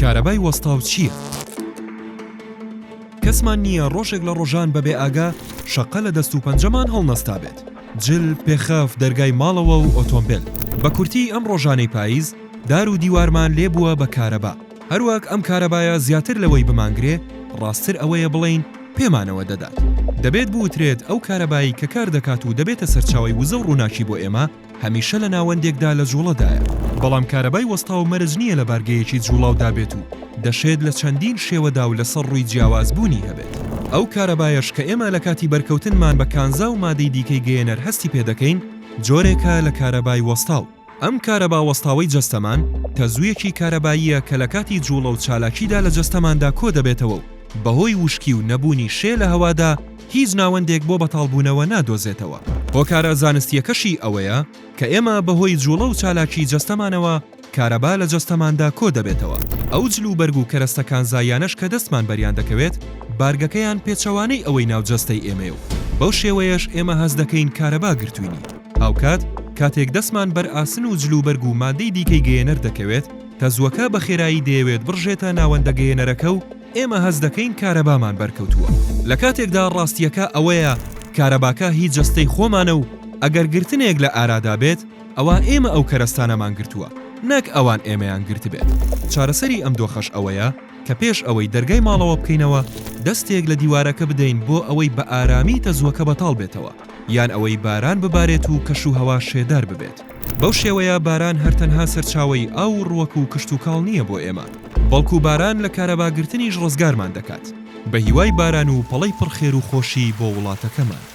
کارەبای وەستاو چییە؟ کەسمان نییە ڕۆژێک لە ڕۆژان بەبێ ئاگا شەقە لە دەست و پەنجەمان هەڵنەستابێت جل پێخەف دەرگای ماڵەوە و ئۆتۆمبیل بە کورتی ئەم ڕۆژانەی پاییز دار و دیوارمان لێ بووە بە کارەبا هەروەک ئەم کارەبایە زیاتر لەوەی بمانگرێ ڕاستتر ئەوەیە بڵێین پێمانەوە دەدات دەبێت بوترێت ئەو کارەبایی کە کار دەکات و دەبێتە سەرچاوەی وزە و ڕووناکی بۆ ئێمە هەمیشە لە ناوەندێکدا لە جوڵەدایە، بەڵام کارەبای وەستاو مەرج نییە لە بارگەیەکی جوڵاودا بێت و دەشێت لە چەندین شێوەدا و لەسەر ڕووی جیاواز بوونی هەبێت. ئەو کارەبایەش کە ئێمە لە کاتی بەرکەوتنمان بە کانزا و مادەی دیکەی گەیەنەر هەستی پێ دەکەین، جۆرێکە لە کارەبای وەستاو. ئەم کارەبا وەستاوەی جەستەمان، تەزوویەکی کارەباییە کە لە کاتی جوڵە و چالاکیدا لە جەستەماندا کۆ دەبێتەوە و بەهۆی وشکی و نەبوونی شێ لە هەوادا، هیچ ناوەندێک بۆ بەتاڵبوونەوە نادۆزێتەوە. هۆکارە زانستییەکەشی ئەوەیە کە ئێمە بەهۆی جووڵە و چالاکی جەستەمانەوە کارەبا لە جەستەماندا کۆ دەبێتەوە، ئەو جل و بەرگ و کەرەستە کانزاییانەش کە دەستمان بەریان دەکەوێت بارگەکەیان پێچەوانەی ئەوەی ناو جەستەی ئێمەیە و بەو شێوەیەش ئێمە هەست دەکەین کارەبا گرتووینی. هاوکات کاتێک دەستمان بەر ئاسن و جل و بەرگ و ماددەی دیکەی گەیەنەر دەکەوێت، تەزووەکە بە خێرایی دەیەوێت بڕژێتە ناوەندە گەیەنەرەکە و، ئێمە هەست دەکەین کارەبامان بەرکەوتووە، لە کاتێکدا ڕاستییەکە ئەوەیە کارەباکە هی جەستەی خۆمانە و ئەگەر گرتنێک لە ئارادا بێت، ئەوا ئێمە ئەو کەرەستانەمان گرتووە، نەک ئەوان ئێمەیان گرتبێت. چارەسەری ئەم دۆخەش ئەوەیە کە پێش ئەوەی دەرگای ماڵەوە بکەینەوە، دەستێک لە دیوارەکە بدەین بۆ ئەوەی بە ئارامی تەزووەکە بەتاڵ بێتەوە، یان ئەوەی باران ببارێت و کەشوهەوا شێدار ببێت. بەو شێوەیە باران هەر تەنها سەرچاوەی ئاو و ڕوەک و کشتوکاڵ نییە بۆ ئێمە، بەڵکو باران لە کارەباگرتنیش ڕزگارمان دەکات، بەهیوای باران و پەڵەی پڕ خێر و خۆشی بۆ وڵاتەکەمان.